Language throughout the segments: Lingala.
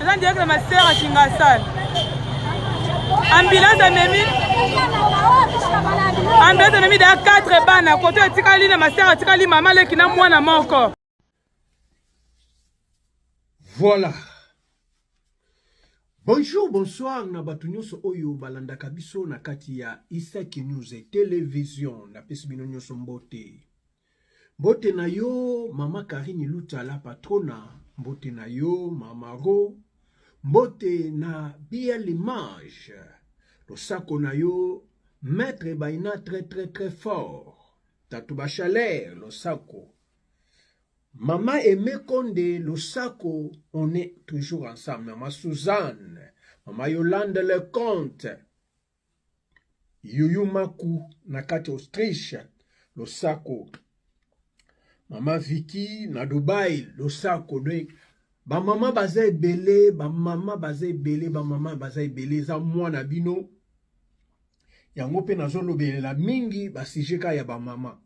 eza direct na master ya kingasal ambulance amemi ambulance amemi daya 4 bana koto etikali na master atikali mama leki na mwana moko voilà bonjour bonsoir na bato nyonso oyo balandaka biso na kati ya isaki news television napesi bino nyonso mbote Mbote na yo mama Karine Lutala patrona, mbote na yo mama Ro, mbote na Bia Limage, losako na yo Maître Baina très très très fort, Tatu Bachaler losako, Mama Aimé Konde losako, on est toujours ensemble, Mama Suzanne, Mama Yolande Leconte, Yoyo Maku na kati Autriche losako mama Vicky na Dubai losako de bamama baza ebele bamama baza ebele bamama baza ebele eza mwana bino yango mpe nazolobelela mingi basije ka ya bamama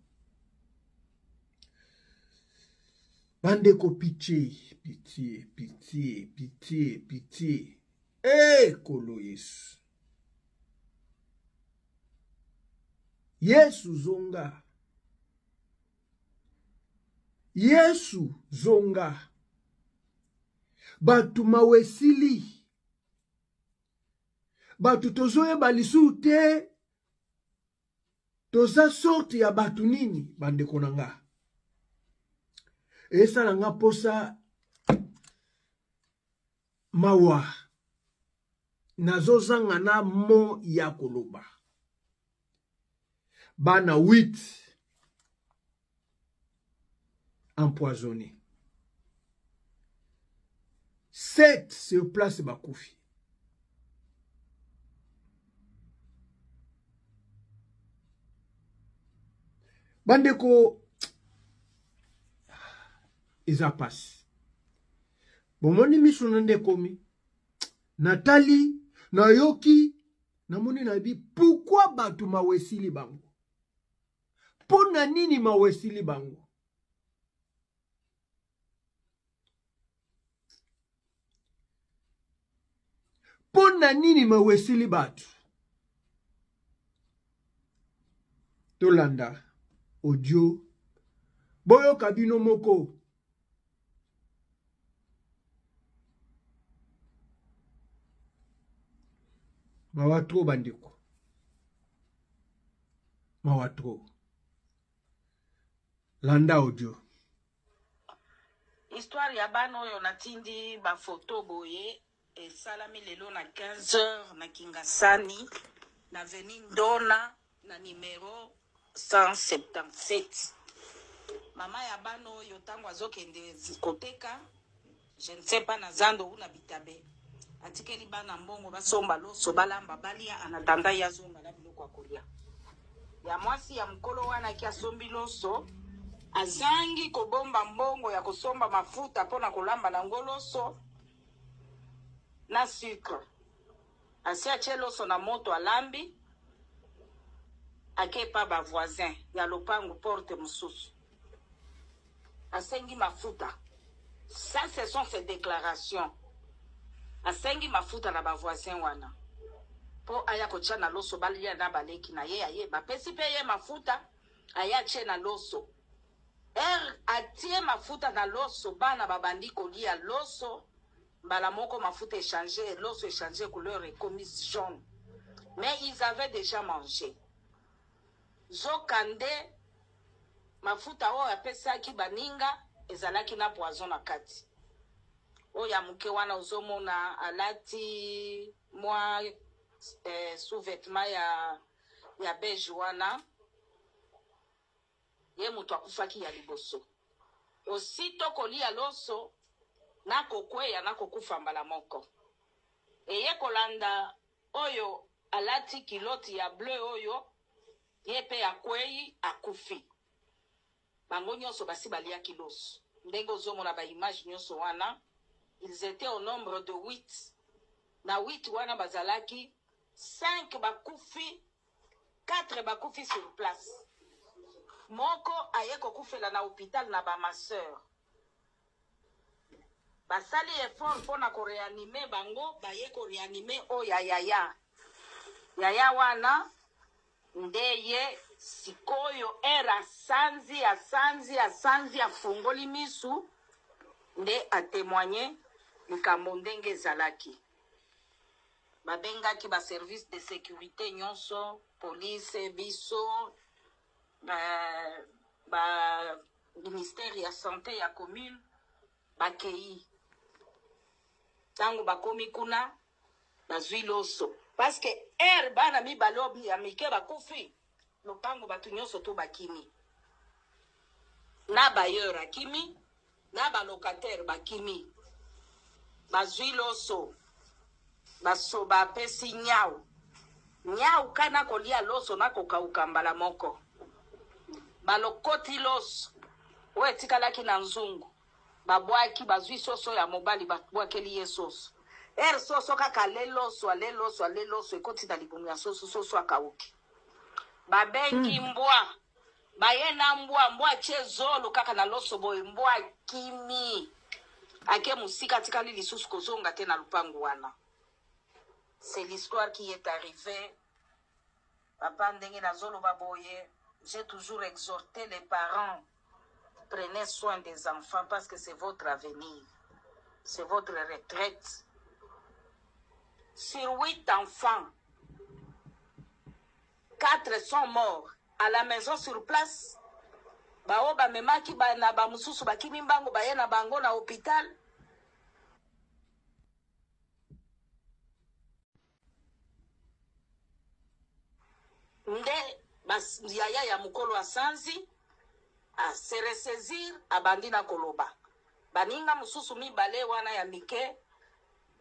bandeko pitie pitie pitie pitie pitie ekolo eh, yesu Yesu zonga. Yesu zonga. Bato mawa esili. Bato tozoyeba lisusu te toza sorte ya bato nini bandeko na nga esala nga mposa Mawa. Nazozanga na mot ya koloba. Bana 8 empoisonnés. 7 sur place bakufi. bandeko eza mpasi bomoni miso na nde ekomi natali nayoki namoni nayebi pourkui bato mawa esili bango mpo na nini mawa esili bango mpo na nini mawa esili bato tolanda audio boyoka bino moko mawa trop bandeko mawa trop landa audio histoire ya bana oyo natindi bafoto boye Esalami lelo na 15 heures na Kingasani, na avenue Ndona, na numero 177. Mama ya bana oyo ntango azokende zi- koteka, je ne sais pas na zando ou na bitabe, atikeli bana mbongo basomba loso, balamba, balia, en attendant ye azonga na biloko ya kolia. Ya mwasi ya mokolo wana ki asombi loso, azangi kobomba mbongo ya kosomba mafuta mpo na kolamba na ngo loso, na sucre asi atie loso na moto alambi ake epa ba voisin ya lopangu porte mususu asengi mafuta ça ce sont ses declarations asengi mafuta na ba voisin wana po aya kotia na loso balia na baleki na ye aye bapesi pe ye mafuta aye atie na loso Heure atie mafuta na loso bana ba bandi ko lia loso mbala moko mafuta e change et loso e change couleur e komi jaune mais ils avaient dejà mange zoka nde mafuta oyo apesaki baninga ezalaki na poison na kati. Oyo ya muke wana ozo mona alati mwa eh, sous-vetement ya ya beige wana Ye moto akufaki ya liboso. Osito koliya loso na kokweya na kokufa mbala moko. Eye kolanda oyo alati culotte ya bleu oyo ye pe akweyi akufi. Bango nionso basi baliaki loso. Ndenge ozo mona ba images nionso wana, ils etaient au nombre de huit. Na huit wana bazalaki cinq bakufi 4 bakufi sur place moko aye kokufela na hopital na ba masseur basali effort mpona ko reanime bango baye ko reanime oyo ya yaya yaya wana nde ye sikoyo ere asanzi asanzi asanzi afungoli misu nde atemoigne likambo ndenge ezalaki Babengaki ba services de securite nionso, police, biso, ba ba ministère ya sante ya commune bakeyi. Tango bakomi kuna bazui loso. Parce que heure bana mibale oyo ya mike bakufi, lopango batu nionso to bakimi na bailleur akimi na ba locataire bakimi bazui loso baso bapesi nyau nyau ka na kolia loso na kokauka mbala moko balokoti loso oyo etikalaki na nzungu Ba bwaki ba zui soso ya mobali ba bwakeli ye soso heure soso kaka le loso ale loso ale loso ekoti na libumu ya soso soso akawuki ba bengi Hum. mbwa ba ye na mbwa mbwa atie zolo kaka na loso boye mbwa akimi ake musika atikali lisusu kozonga te na lupangu wana c'est l'histoire qui est arrive Papa ndenge nazo loba boye j'ai toujours exhorte les parents prenez soin des enfants parce que c'est votre avenir c'est votre retraite sur 8 enfants 4 sont morts à la maison sur place baoyo bamemaki ba, na bamosusu bakimi mbango baye na bango na hôpital Nde ba yaya ya mukolo asanzi a se ressaisir abandi na koloba. Baninga mususu mibale wana ya mike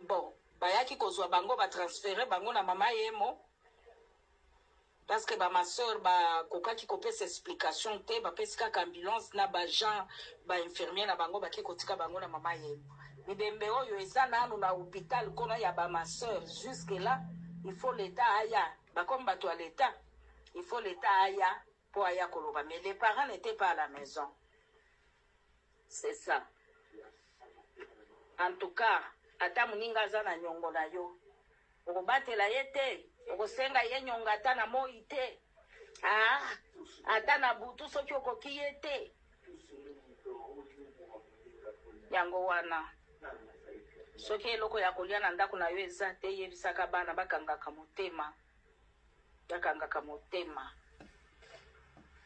bon bayaki kozua bango ba transferer bango na mama Yemo. Parce que ba ma soeur ba kokaki ko pesa explication te, ba pesi kaka ambulance na ba gens ba infirmiers na bango bake ko tika bango na mama yemo. Bibembe oyo eza nanu na hopital kono ya ba ma soeur jusque là il faut l'etat aya ba comme batu ya l'etat il faut l'etat aya po aya koloba mais les parents n'etait pas à la maison. C'est ça en tout cas ata muninga aza na niongo na yo okobatela ye te okosenga ye niongo ata na moyi te aah ata na butu soki okoki ye te yango wana soki eloko ya kolia na ndaku na yo eza te yebisaka bana bakangaka motema Akangaka motema.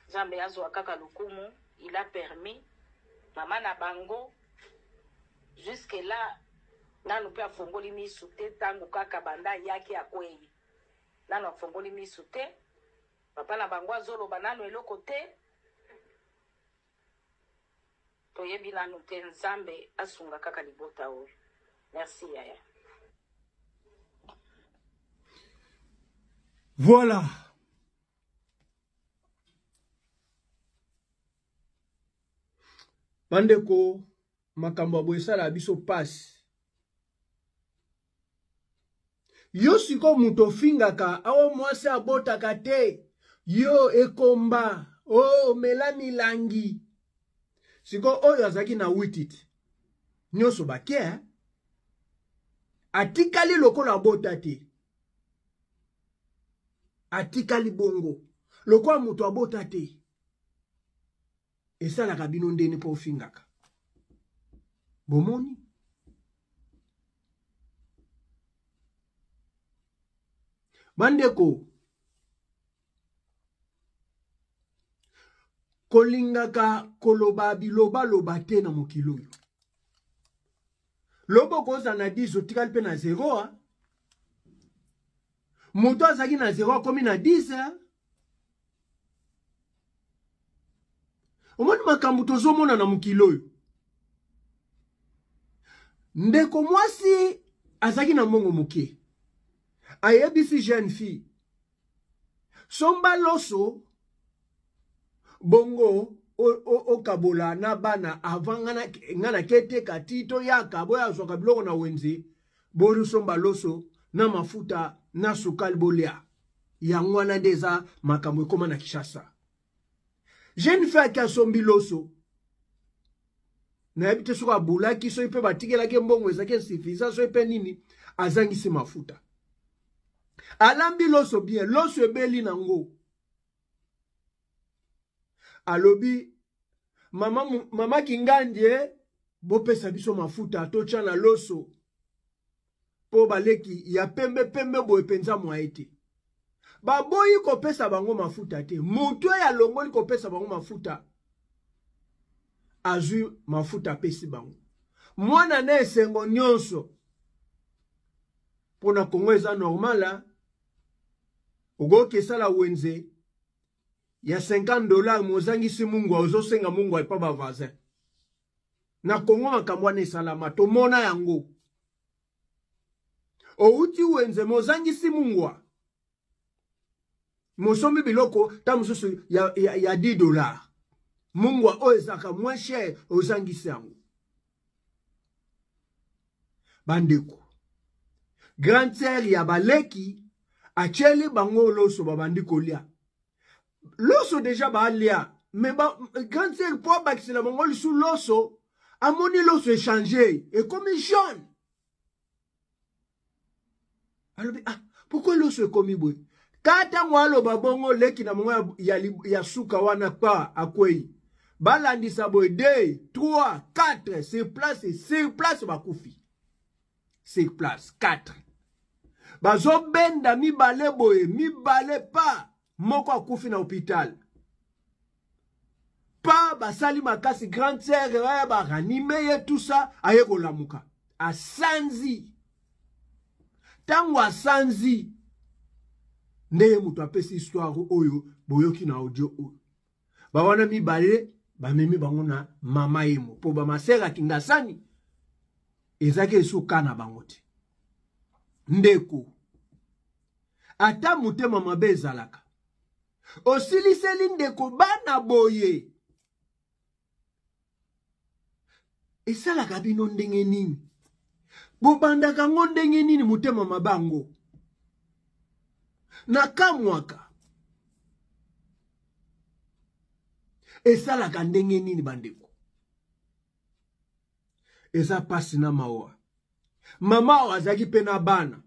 Nzambe azua kaka lokumu, il a permis maman na bango jusque là nanu pe afongoli misu te tangu kaka banda ayaki akueyi nanu afongoli misu te papa na bango azoloba nanu eloko te Toyebi nanu te nzambe asunga kaka libota oyo merci yaya. Voilà. Bandeko, makambo ya boye esalaka biso pasi. yo siko moto ofingaka awo mwasi abotaka te yo ekomba o oh, mela milangi siko oyo azalaki na witit nyonso bake eh? atikali lokola abota te atikali bongo lokola moto abota te esalaka bino ndeni mpo ofingaka bomoni bandeko kolingaka koloba bilobaloba te na mokili oyo lobo okozala na 10 otikali mpe na 0 moto azalaki na 0 akomi na 10 omoni makambo tozomona na mokili oyo ndeko mwasi azalaki na mbongo moke ayebisi jeune fille somba loso bongo okabola na bana avant nga na keteka ti toyaka boye azwaka biloko na wenze bosomba loso na mafuta na sukali bolia Yango wana nde eza makambo ekoma na Kishasa. Jeune fille qui asombi loso nayebi te soki abulaki soki mpe batikelaki mbongo ezalaki insuffisant soki mpe nini azangisi mafuta alambi loso bien loso ebeli na ngo alobi mama, mama kingandie bopesa biso mafuta totya na loso mpo baleki ya pembe pembe boye mpenza mwaye te baboyi kopesa bango mafuta te moto oyo alongoli kopesa bango mafuta azwi mafuta apesi bango mwana na esengo nyonso mpo na kongo eza normala okoki esala wenze ya 50 dollar mozangisi mungwa ozosenga mungwa epa bavasin na Congo makambo wana esalama tomona yango outi wenze mozangisi mungwa mosombi biloko ta mosusu ya, ya, ya 10 dollars mungwa oyo ezalaka moins cher ozangisi yango bandeko grande sere ya baleki atyeli bango loso babandi kolya loso deja baalia me ba, grande sœur mpo abakisela bango lisu loso amoni loso echange ekomi jaune alobi ah pourkui loso ekomi boye ka ntango aloba bongo leki na bango ya, ya, ya suka wana pa akwei balandisa boye 2 3 4 sur place sur place bakufi sur place 4 bazobenda mibale boye mibale pa moko akufi na hopital pa basali makasi grande sœur ya baranime ye tout ça aye kolamuka asanzi ntango asanzi nde ye moto apesi histoire oyo boyoki na audio oyo bawana mibale bamemi bango na mama yemo mpo bamasere ya kingasani ezalaki esuka na bango te ndeko ata motema mabe ezalaka osiliseli ndeko bana boye esalaka bino ndenge nini bobandaka ngo ndenge nini motema mabango na kamwaka esalaka ndenge nini bandeko eza mpasi na mawa mama oyo azalaki mpe na bana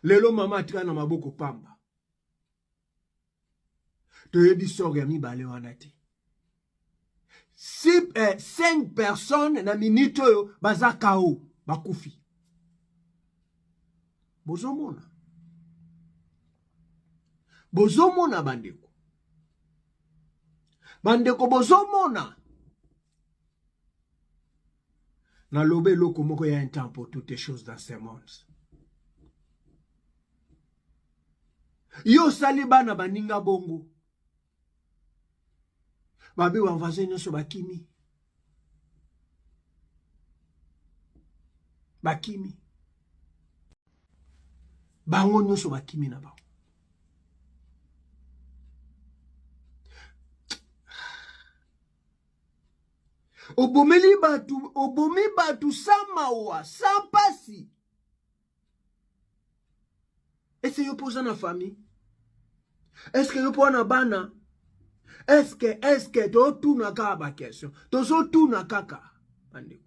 lelo mama atika na maboko pamba toyebi sort ya mibale wana te si, eh, cinq personnes na minute oyo baza kao bakufi bozomona bozomona bandeko bandeko bozomona naloba eloko moko ya un temps pour toutes choses dans ce monde yo osali bana baninga bongo babe ba voisin nyonso bakimi bakimi bango nyonso bakimi na bango obomeli bato obomi bato sa mawa sa mpasi ese yo mpo oza na famille eske yo mpo na bana eske eske totuna kaka bakestion tozotuna kaka bandeko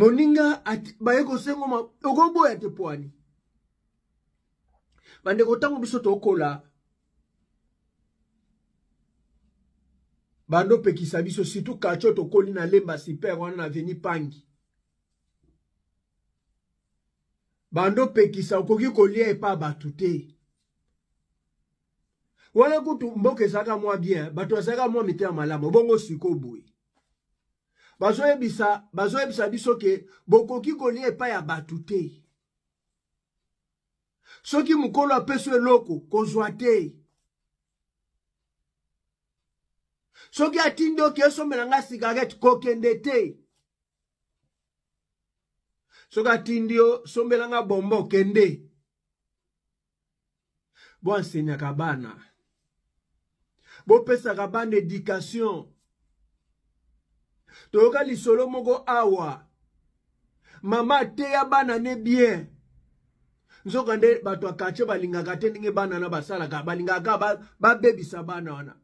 moninga baye kosengo okoboya te poani bandeko ntango biso tokola bando pekisa biso surtout kacho tokoli na lemba super wana na veni pangi bando pekisa okoki kolia epa bato te wana kutu mboka ezalaka mwa bien bato bazalaka mwa mitema malamu bongo siko boye bazoyebisa bazoyebisa biso ke bokoki kolia epai ya bato te soki mokolo apesi eloko kozwa te soki atindi oke esombela ngai sigarete kokende te soki atindi yo sombela nga bombo kende bo ensenyaka bana bopesaka bana education toyoka lisolo moko awa mama ateya bana ne bien nzokande bato ya katie balingaka te ndenge bana na basalaka balingaka babebisa ba bana wana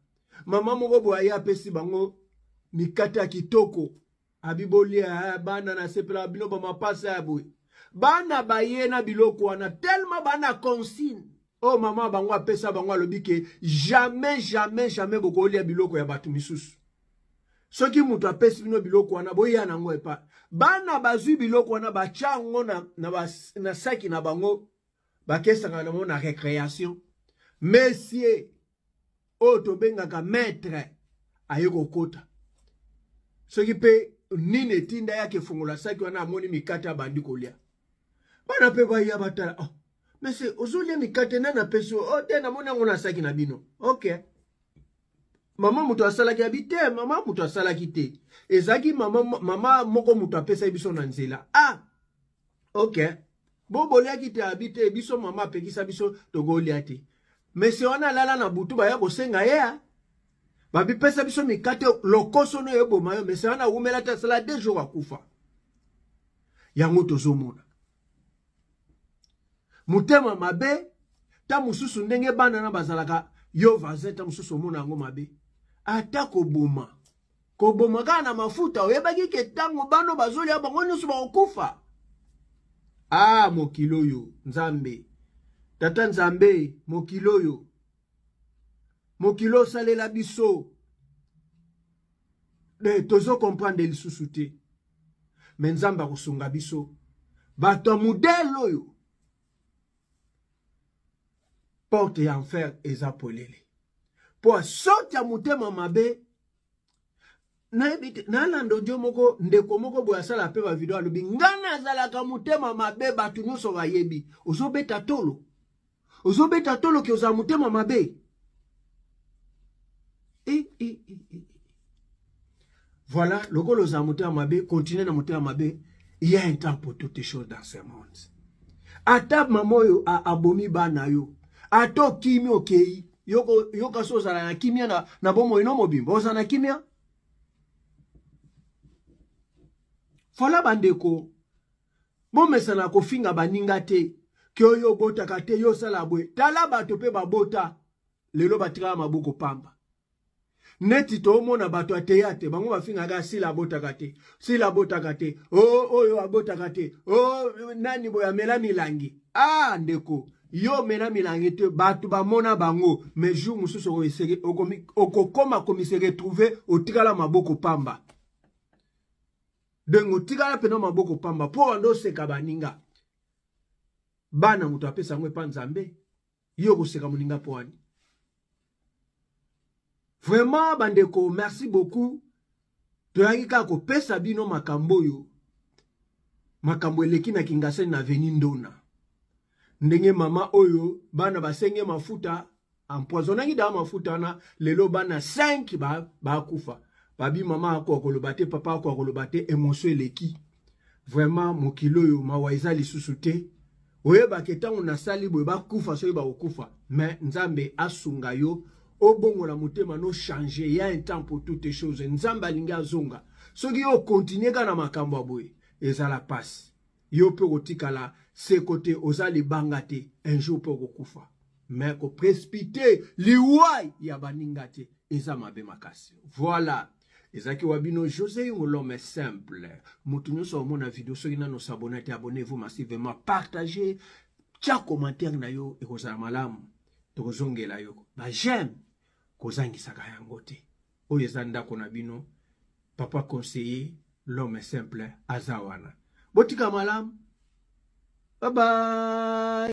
mama moko boye aye apesi bango mikate ya kitoko abi bolia eh, bana na sepela bino ba mapasa ya boye bana baye na biloko wana tellement bana consigne oyo oh, mama bango apesa bango alobi ke jamais jamais jamais bokolia biloko ya bato misusu soki moto apesi bino biloko wana boya nango epa bana bazwi biloko wana batya yango na, na, ba, na saki na bango bakesaka nango na recreation mesie oyo tobengaka maître aye kokota soki mpe nini etinda yake efongola saki wana amoni mikate abandi kolya bana mpe baya batala oh, mese ozolya mikate nani apesi o oh, te namoni yango na saki na bino ok mama moto asalaki abi te mama moto asalaki te ezalaki mama, mama moko moto apesaki biso na nzela ah ok bo boliaki te abi te biso mama apekisa biso tokolia te mese wana alala na butu baya kosenga ye ya babipesa biso mikate lokoso no eboma yo mese wana awumela te asala de jour akufa yango tozomona motema mabe ta mosusu ndenge bana na bazalaka yo vaze ta mosusu omona yango mabe ata koboma koboma kaka na mafuta oyebaki ke ntango bano bazolia bango nyonso bakokufa ah mokili oyo nzambe tata nzambe mokili oyo mokili osalela biso de tozo comprendre lisusu te me nzambe akosunga biso bato ya modele oyo porte ya enfer eza polele mpo asoti ya motema mabe nayebi te nalanda odio moko ndeko moko boye asala mpe bavideo alobi ngai nazalaka motema mabe bato nyonso bayebi ozobeta tolo ozobeta tolo ke ozala motema mabe e, e, e, e. Voilà, lokola oza motema mabe, continue na motema mabe. Il y a un temps pour toutes choses dans ce monde. Ata mama oyo abomi bana yo, ata okimi okei, yoka so ozala na kimia na, na bomoi no mobimba, ozala na kimia. Voilà bandeko, bomesana kofinga baninga te, ke oyo obotaka te, yo osala bwe. Tala bato mpe babota, lelo batikala maboko pamba. neti toomona bato ya teyate bango bafingaka sila abotaka te sila abotaka te o oh, oyo abotaka te o oh, nani boye amela milangi a ah, ndeko yo omela milangi te bato bamona bango mais jour mosusu okokoma komise retrouve otikala maboko pamba donc otikala mpena maboko pamba mpo wanda oseka baninga bana moto apesa yango epa nzambe Yo koseka moninga poani. Vraiment bandeko, merci beaucoup. Toyaki kaka kopesa bino makambo oyo makambo eleki na Kingasani na veni Ndona. Ndenge mama oyo bana basenge mafuta empoisonnaki da mafuta na lelo bana 5 bakufa. Ba babi mama ako akoloba te, papa ako akoloba te, emotion eleki. vraiment mokili oyo mawa eza lisusu te oyebaki ntango nasali boye bakufa soki bakokufa mais nzambe asunga yo obongola motema no change ya un temps pour toutes choses nzambe alingi azonga soki yo okontinue kaka na makambo ya boye ezala mpasi yo mpe okotikala seko te oza libanga te un jour mpe okokufa mais koprespite liwai ya baninga te eza mabe makasi voilà ezalaki wa bino josé yungo l'homme simple moto nyonso omona video soki nano sabona te abonnez vous massivement partage tya commentaire na yo ekozala malamu tokozongela yo ba j'aime kozangisaka yango te oyo eza ndako na bino papa conseiller l'homme simple aza wana botika malamu bye bye